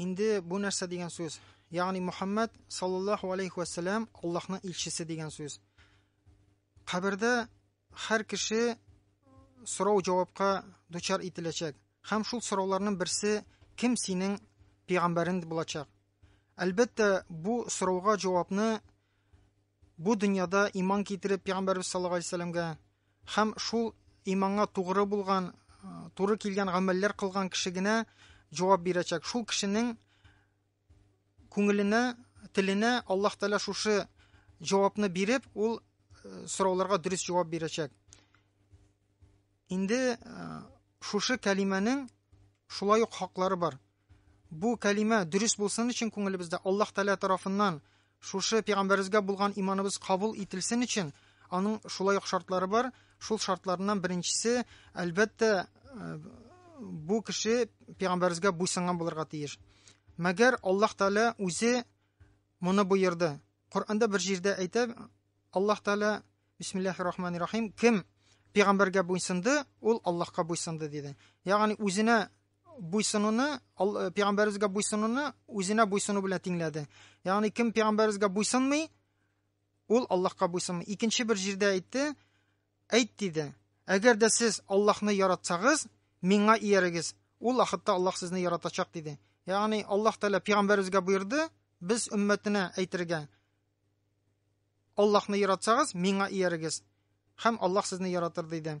Инде бу нәрсә дигән сүз? Ягъни Мухаммад саллаллаһу алейхи ва саллям Аллаһның илчесе дигән сүз. Кабердә һәр кеше сорау җавапка дучар ителәчәк. Һәм шул сорауларның берсе кем синең пәйгамбәрең булачак? Әлбәттә, бу сорауга җавапны Бу дөньяда иман китереп пигамбәрбез саллаллаху алейһи вәсәлләмгә һәм шул иманга тугры булган, туры килгән гамәлләр кылган кеше генә җавап бирәчәк. Шул кешенең күңеленә, теленә Аллаһ Тәгалә шушы җавапны биреп, ул э, сорауларга дөрес җавап бирәчәк. Инде э, шушы кәлимәнең шулай ук хаклары бар. Бу кәлимә дөрес булсын өчен күңелебездә Аллаһ Тәгалә тарафыннан шушы пәйгамбәребезгә булган иманыбыз кабул ителсен өчен аның шулай ук шартлары бар. Шул шартларыннан беренчесе, әлбәттә, э, бу кеше пәйгамбәребезгә буйсынган булырга тиеш. Мәгәр Аллаһ Тәгалә үзе моны боерды. Коранда бер җирдә әйтә Аллаһ Тәгалә Бисмиллахир рахманир рахим кем пәйгамбәргә буйсынды, ул Аллаһка буйсынды диде. Ягъни үзенә буйсынуны пәйгамбәребезгә буйсынуны үзенә буйсыну белән тиңләде ягъни кем пәйгамбәребезгә буйсынмый ул аллаһка буйсынмый икенче бер җирдә әйтте әйт диде әгәр дә сез аллаһны яратсагыз миңа иярегез ул вакытта аллаһ сезне яратачак диде ягъни аллаһ тәала пәйгамбәребезгә боерды без өммәтенә әйтергә аллаһны яратсагыз миңа иярегез һәм аллаһ сезне яратыр диде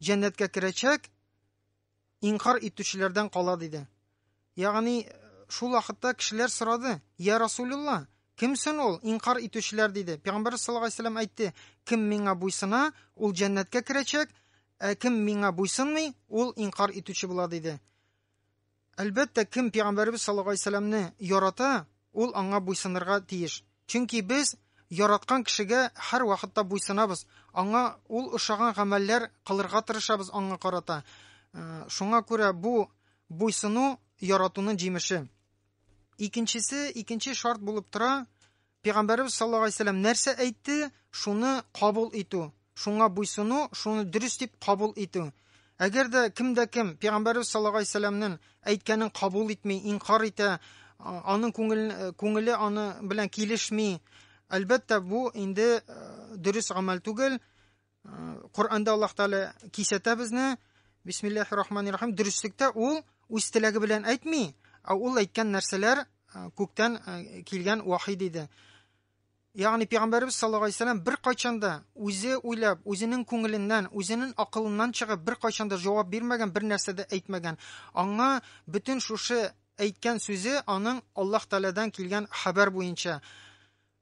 җәннәткә керәчәк, инкар итүчеләрдән кала диде. Ягъни шул вакытта кешеләр сорады, "Я Расулулла, кемсен ул инкар итүчеләр?" диде. Пәйгамбәр саллаллаху алейһи вәсәлләм әйтте, "Кем миңа буйсына, ул җәннәткә керәчәк, ә кем миңа буйсынмый, ул инкар итүче була" диде. Әлбәттә, кем пигамбәребез саллаллаһу алейһи вәсәлләмне ярата, ул аңа буйсынырга тиеш. Чөнки без яраткан кешегә һәрвакытта буйсынабыз, аңа ул ошаган гамәлләр кылырга тырышабыз аңа карата. Э, шуңа күрә бу буйсыну яратуның җимеше. Икенчесе, икенче шарт булып тора, Пәйгамбәребез саллаллаһу алейһи вәсәлләм нәрсә әйтте, шуны кабул итү, шуңа буйсыну, шуны дөрес дип кабул итү. Әгәр дә кем дә кем пәйгамбәребез саллаллаһу алейһи вәсәлләмнең әйткәнен кабул итми, инкар итә, аның күңеле, күңеле аны белән килешми, әлбәттә, бу инде дөрес гамәл түгел. Коранда Аллаһ Тәгалә кисәтә безне. Бисмиллаһир рахманир рахим. Дөреслектә ул үз теләге белән әйтми, ә ул әйткән нәрсәләр күктән килгән вахи диде. Ягъни пәйгамбәрбез саллаллаһу алейһи вәсәлләм бер кайчан да үзе уйлап, үзенең күңеленнән, үзенең акылыннан чыгып бер кайчан да җавап бирмәгән, бер нәрсә дә әйтмәгән. Аңа бөтен шушы әйткән сүзе аның Аллаһ Тәгаләдән килгән хәбәр буенча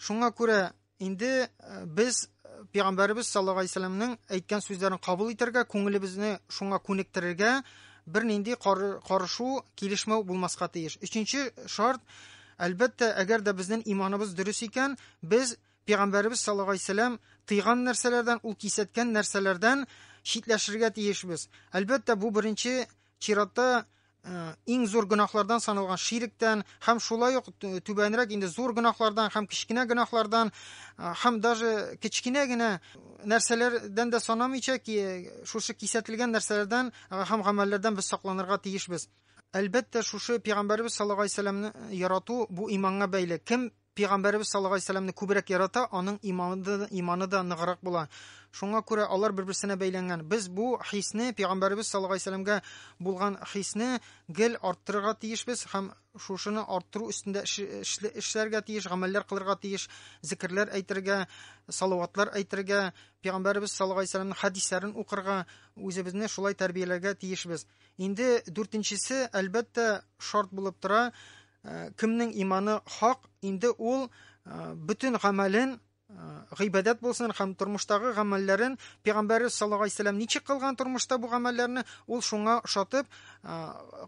Шуңа күрә инде э, без э, пәйгамбәребез саллаллаһу алейһи вәсәлләмнең әйткән сүзләрен кабул итәргә, күңелебезне шуңа күнектерергә, бернинди карышу, килешмәү булмаска тиеш. Өченче шарт, әлбәттә, әгәр дә безнең иманыбыз дөрес икән, без пәйгамбәребез саллаллаһу алейһи вәсәлләм тыйган нәрсәләрдән, ул кисәткән нәрсәләрдән читләшергә тиешбез. Әлбәттә, бу беренче Чиратта Э, иң зур гөнаһлардан саналган ширектән һәм шулай ук түбәнрәк инде зур гөнаһлардан һәм кечкенә гөнаһлардан э, һәм даже кечкенә генә нәрсәләрдән дә санамыйча ки шушы кисәтелгән нәрсәләрдән э, һәм гамәлләрдән без сакланырга тиешбез әлбәттә шушы пигамбәребез саллаллаху алейһи вәсәләмне ярату бу иманга бәйле кем Пәйгамбәребез саллаллаһу алейһи ва сәлләмне күбрәк ярата, аның иманы да, иманы да ныграк була. Шуңа күрә алар бер-берсенә бәйләнгән. Без бу хисне, Пәйгамбәребез саллаллаһу алейһи ва сәлләмгә булган хисне гел арттырырга тиешбез һәм шушыны арттыру өстендә эшләргә тиеш, гамәлләр кылырга тиеш, зикерләр әйтергә, салаватлар әйтергә, Пәйгамбәребез саллаллаһу алейһи ва сәлләмнең хәдисләрен укырга, үзебезне шулай тәрбияләргә тиешбез. Инде дүртенчесе, әлбәттә, шарт булып тора, Э, кемнең иманы хак, инде ул э, бөтен гамәлен э, гыйбадәт булсын һәм тормыштагы гамәлләрен пәйгамбәре саллаллаху алейһи вәсәләм ничек кылган тормышта бу гамәлләрне ул шуңа ошатып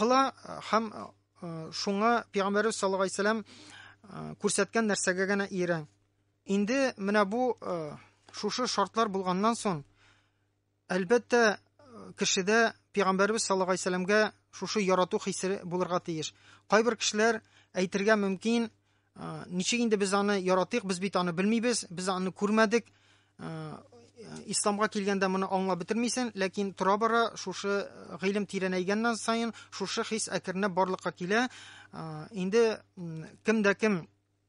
кыла һәм шуңа пәйгамбәре саллаллаху алейһи вәсәләм күрсәткән нәрсәгә генә иярә инде менә бу шушы шартлар булганнан соң Әлбәттә, кешедә пәйгамбәрбез саллаллаһу алейһи сәламгә шушы ярату хисе булырга тиеш. Кайбер кешеләр әйтергә мөмкин, ничек инде без аны яратыйк, без бит аны белмибез, без аны күрмәдек. Исламга килгәндә моны аңлап бетермисең, ләкин тора-бара шушы гыйлем тирәнәйгәннән саен шушы хис әкренләп барлыкка килә. Инде кем дә кем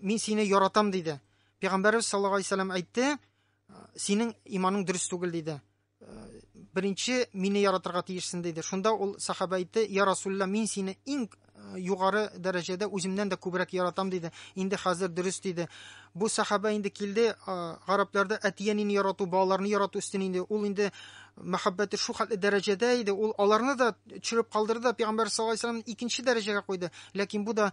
Мин сине яратам диде. Пәйгамбәрбез саллаллаһу алейһи вәсәлләм әйтте, синең иманың дөрес түгел диде. Беренче мине яратырга тиешсең диде. Шунда ул сахаба әйтте, "Я Расулла, мин сине иң югары дәрәҗәдә үземнән дә күбрәк яратам" диде. Инде хәзер дөрес диде. Бу сахаба инде килде, гарапларда әтиянене ярату, балаларны ярату өстен инде. Ул инде мәхәббәте шул хәтле дәрәҗәдә иде, ул аларны да төшереп калдырды да, пәйгамбәр саллаллаһу алейһи икенче дәрәҗәгә куйды. Ләкин бу да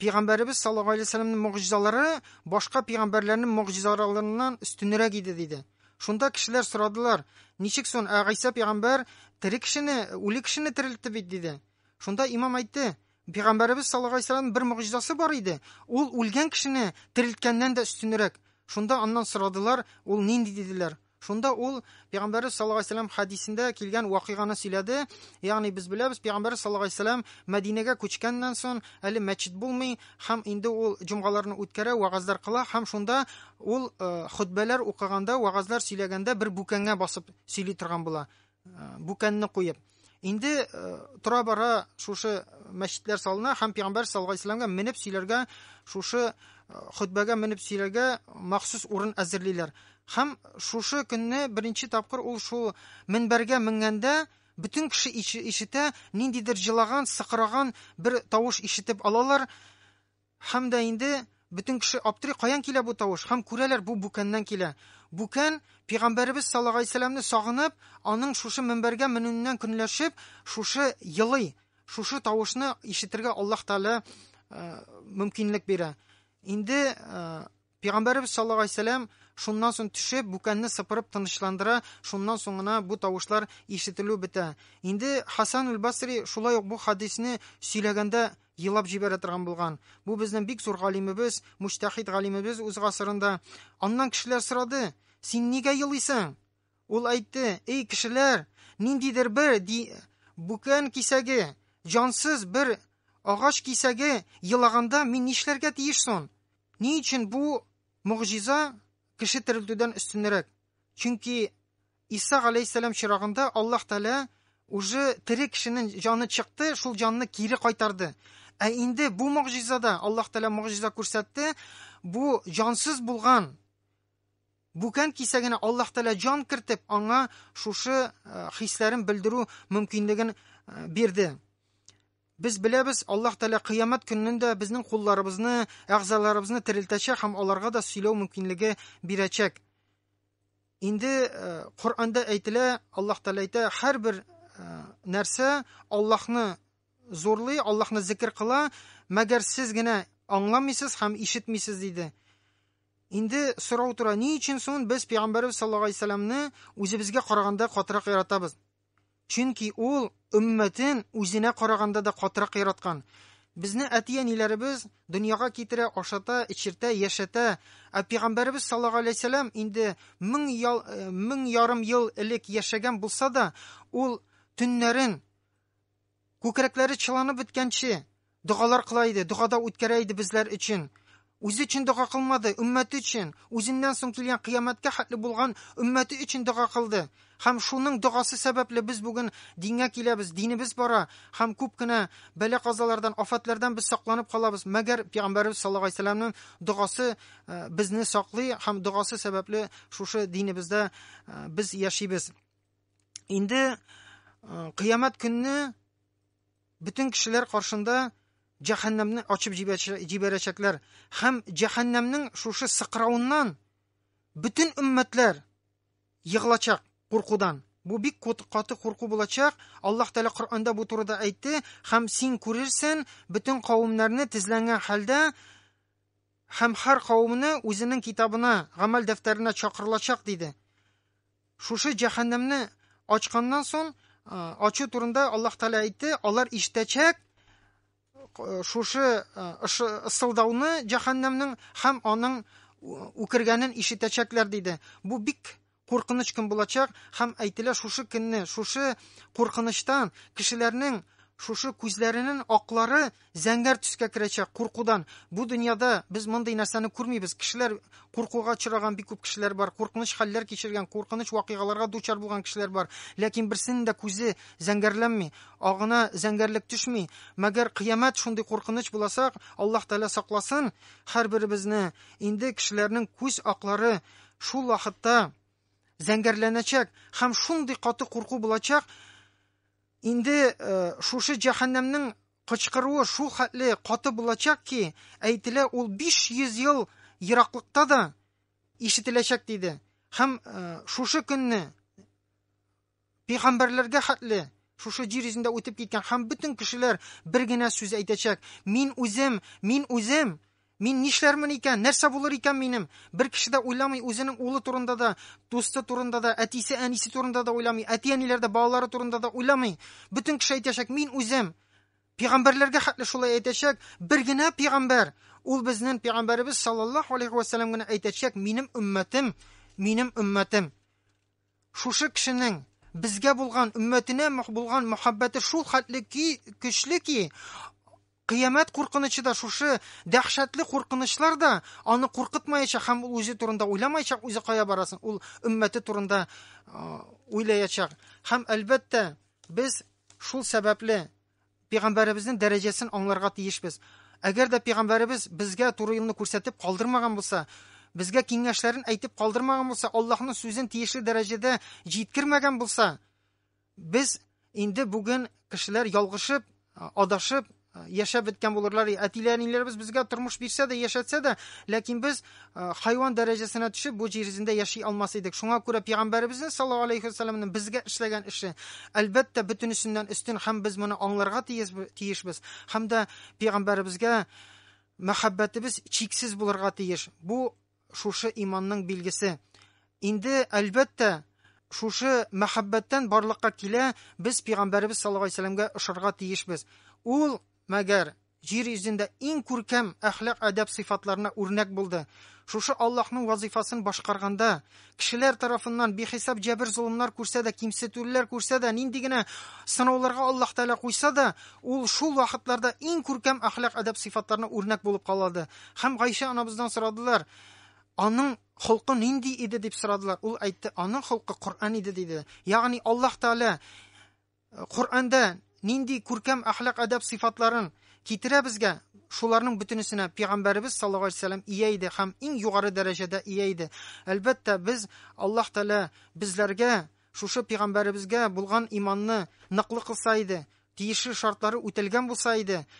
Пәйгамбәребез саллаллаһу алейһи вәсәлләмнең мөгъҗизалары башка пәйгамбәрләрнең мөгъҗизаларыннан өстенрәк иде диде. Шунда кешеләр сорадылар, ничек сон ә Гайса пәйгамбәр тере кешене, үле кешене терелтте бит диде. Шунда имам әйтте, пәйгамбәребез саллаллаһу алейһи вәсәлләм бер мөгъҗизасы бар иде, ул үлгән кешене терелткәннән дә өстенрәк. Шунда аннан сорадылар, ул нинди диделәр. Шунда ул Пәйгамбәрбез саллаллаһу алейһи вәсәлләм хәдисендә килгән вакыйганы сөйләде. Ягъни без беләбез, Пәйгамбәрбез саллаллаһу алейһи вәсәлләм Мәдинәгә күчкәннән соң әле мәчет булмый һәм инде ул җомгаларны үткәрә, вагазлар кыла һәм шунда ул э, хөтбәләр укыганда, вагазлар сөйләгәндә бер бүкәнгә басып сөйли торган була. Бүкәнне куеп. Инде тора бара шушы мәчетләр салына һәм пәйгамбәр саллаллаһу алейһи вәсәләмгә менеп сөйләргә шушы хөтбәгә менеп сөйләргә махсус урын әзерлиләр. Һәм шушы көнне беренче тапкыр ул шул минбәргә менгәндә бөтен кеше ишетә, ниндидер җылаган, сыкыраган бер тавыш ишетеп алалар. Һәм дә инде бөтен кеше аптырый, каян килә бу тавыш? Һәм күрәләр, бу Бүкәннән килә. Бүкән, пигамбәребез саллагаисәләмне сагынып, аның шушы мөнбәргә менүеннән көнләшеп, шушы елый, шушы тавышны ишетергә Аллаһ Тәгалә мөмкинлек бирә. Инде Пигамбәребез саллаллаһу алейһи вә сәлләм шуннан соң төшеп, бүкәнне сыпырып тынычландыра, шуннан соң гына бу тавышлар ишетелү бетә. Инде Хасан аль-Басри шулай ук бу хадисне сөйләгәндә елап җибәрә торган булган. Бу безнең бик зур галимебез, муҗтәһид галимебез үз гасырында. Аннан кешеләр сорады: "Син нигә елыйсың?" Ул әйтте: "Эй кешеләр, ниндидер бер ди бүкән кисәге, җансыз бер агач кисәге елаганда мин нишләргә тиеш сон? Ни өчен бу могҗиза кеше терелтүдән өстенрәк? Чөнки Иса галәйһиссәлам чирагында Аллаһ Тәгалә уже тере кешенең җаны чыкты, шул җанны кире кайтарды. Ә инде бу могҗизада Аллаһ Тәгалә могҗиза күрсәтте, бу җансыз булган Бүкән кисәгенә Аллаһ Тәгалә җан кертеп, аңа шушы э, хисләрен белдерү мөмкинлеген э, бирде. Без беләбез, Аллаһ Тәгалә кыямәт көннен дә безнең кулларыбызны, әгъзаларыбызны терелтәчәк һәм аларга да сөйләү мөмкинлеге бирәчәк. Инде э, Коръәндә әйтелә, Аллаһ Тәгалә әйтә, һәрбер э, нәрсә Аллаһны зурлый, Аллаһны зикер кыла, мәгәр сез генә аңламыйсыз һәм ишетмисез диде. Инде сорау тора, ни өчен соң без пәйгамбәрбез саллаллаһу алейһи вәсәлламны үзебезгә караганда катырак яратабыз? Чөнки ул өммәтен үзенә караганда да катырак яраткан. Безне әти-әниләребез дөньяга китерә, ашата, эчертә, яшәтә, ә пигамбәребез саллаллаһу алейһи сәлам инде мең ял, э, мең ярым ел элек яшәгән булса да, ул төннәрен Күкрәкләре чыланып беткәнче, догалар кыла иде, догада үткәрә иде безләр өчен. Үзе өчен дога кылмады, өммәте өчен, үзеннән соң килгән кыямәткә хәтле булган өммәте өчен дога кылды. Һәм шуның догасы сәбәпле без бүген дингә киләбез, динебез бара һәм күп кенә бәла-казалардан, афәтләрдән без сакланып калабыз. Мәгәр Пәйгамбәребез саллаллаһу алейһи сәламнең догасы э, безне саклый һәм догасы сәбәпле шушы динебездә э, без яшибез. инде кыямәт көнне бөтен кешеләр каршында җәһәннәмне ачып җибәрәчәкләр һәм җәһәннәмнең шушы сыкрауыннан бөтен өммәтләр егылачак куркудан бу бик каты курку булачак аллаһ тәала коранда бу турыда әйтте һәм син күрерсен бөтен кавемнәрне тезләнгән хәлдә Һәм һәр кавемне үзенең китабына, гамәл дәфтәренә чакырылачак, диде. Шушы җәһәннәмне ачканнан сон, ачу турында Аллаһ Тәгалә әйтте, алар иштәчәк шушы ысылдауны җәһәннәмнең һәм аның үкергәнен ишетәчәкләр, диде. Бу бик куркыныч көн булачак һәм әйтелә шушы көнне, шушы куркынычтан кешеләрнең шушы күзләренең аклары зәңгәр төскә керәчәк куркудан. Бу дөньяда без мондый нәрсәне күрмибез. Кешеләр куркуга очраган бик күп кешеләр бар, куркыныч хәлләр кичергән, куркыныч вакыйгаларга дучар булган кешеләр бар, ләкин берсенең дә күзе зәңгәрләнми, агына зәңгәрлек төшми. Мәгәр кыямәт шундый куркыныч буласак, Аллаһ Тәгалә сакласын, һәрберебезне инде кешеләрнең күз аклары Шул вакытта зәңгәрләнәчәк һәм шундый каты курку булачак, инде э, шушы җәһәннәмнең кычкыруы шул хәтле каты булачак ки, әйтелә, ул 500 ел ераклыкта да ишетеләчәк диде. Һәм э, шушы көнне Пәйгамбәрләргә хәтле шушы җир йөзендә үтеп киткән һәм бөтен кешеләр бер генә сүз әйтәчәк, Мин үзем, мин үзем! Мин нишләрмен икән, нәрсә булыр икән минем? Бер кеше дә уйламый, үзенең улы турында да, дусты турында да, әтисе, әнисе турында да уйламый, әти-әниләр дә балалары турында да уйламый. Бөтен кеше әйтәчәк, Мин үзем! Пәйгамбәрләргә хәтле шулай әйтәчәк, бер генә пәйгамбәр, ул безнең пәйгамбәребез саллаллаһу алейхи вәсәләм генә әйтәчәк, Минем өммәтем, минем өммәтем! Шушы кешенең безгә булган, өммәтенә булган мәхәббәте шул хәтле ки, көчле ки, кыямәт куркынычы да, шушы дәһшәтле куркынычлар да аны куркытмаячак һәм ул үзе турында уйламаячак, үзе кая барасын, ул өммәте турында уйлаячак. Һәм, әлбәттә, без шул сәбәпле пигамбәребезнең дәрәҗәсен аңларга тиешбез. Әгәр дә пигамбәребез безгә туры юлны күрсәтеп калдырмаган булса, безгә киңәшләрен әйтеп калдырмаган булса, Аллаһның сүзен тиешле дәрәҗәдә җиткермәгән булса, без инде бүген кешеләр ялгышып, адашып яшәп беткән булырлар. Әтиләр, инләребез безгә тормыш бирсә дә, яшәтсә дә, ләкин без Э, хайван дәрәҗәсенә төшеп бу җир йөзендә яши алмас идек шуңа күрә пигамбәребезнең саллаллаху алейхи вассаламның безгә эшләгән эше әлбәттә бөтенесеннән өстен һәм без моны аңларга тиешбез һәм дә пигамбәребезгә мәхәббәтебез чиксез булырга тиеш бу шушы иманның билгесе инде әлбәттә шушы мәхәббәттән барлыкка килә без пигамбәребез саллаллаху алейхи вассаламга ошарга тиешбез ул Мәгәр җир йөзендә иң күркәм әхлак-әдәп сыйфатларына үрнәк булды. Шушы Аллаһның вазыйфасын башкарганда, кешеләр тарафыннан бихисап җәбер-золымнар күрсә дә, кимсетүлеләр күрсә дә, нинди генә сынауларга Аллаһ Тәгалә куйса да, ул шул вакытларда иң күркәм әхлак-әдәп сыйфатларына үрнәк булып калады. Һәм Гайшә анабыздан сорадылар, Аның холкы нинди иде? дип сорадылар. Ул әйтте, Аның холкы Коръән иде, диде. Ягъни Аллаһ Тәгалә Коръәндә нинди күркәм әхлак-әдәп сыйфатларын китерә безгә, шуларның бөтенесенә Пигамбәребез саллаллаһу алейһи вә сәлләм ия иде һәм иң югары дәрәҗәдә ия иде. Әлбәттә, без, Аллаһ Тәгалә безләргә шушы Пигамбәребезгә булган иманны ныклы кылса иде, тиешле шартлары үтәлгән булса иде,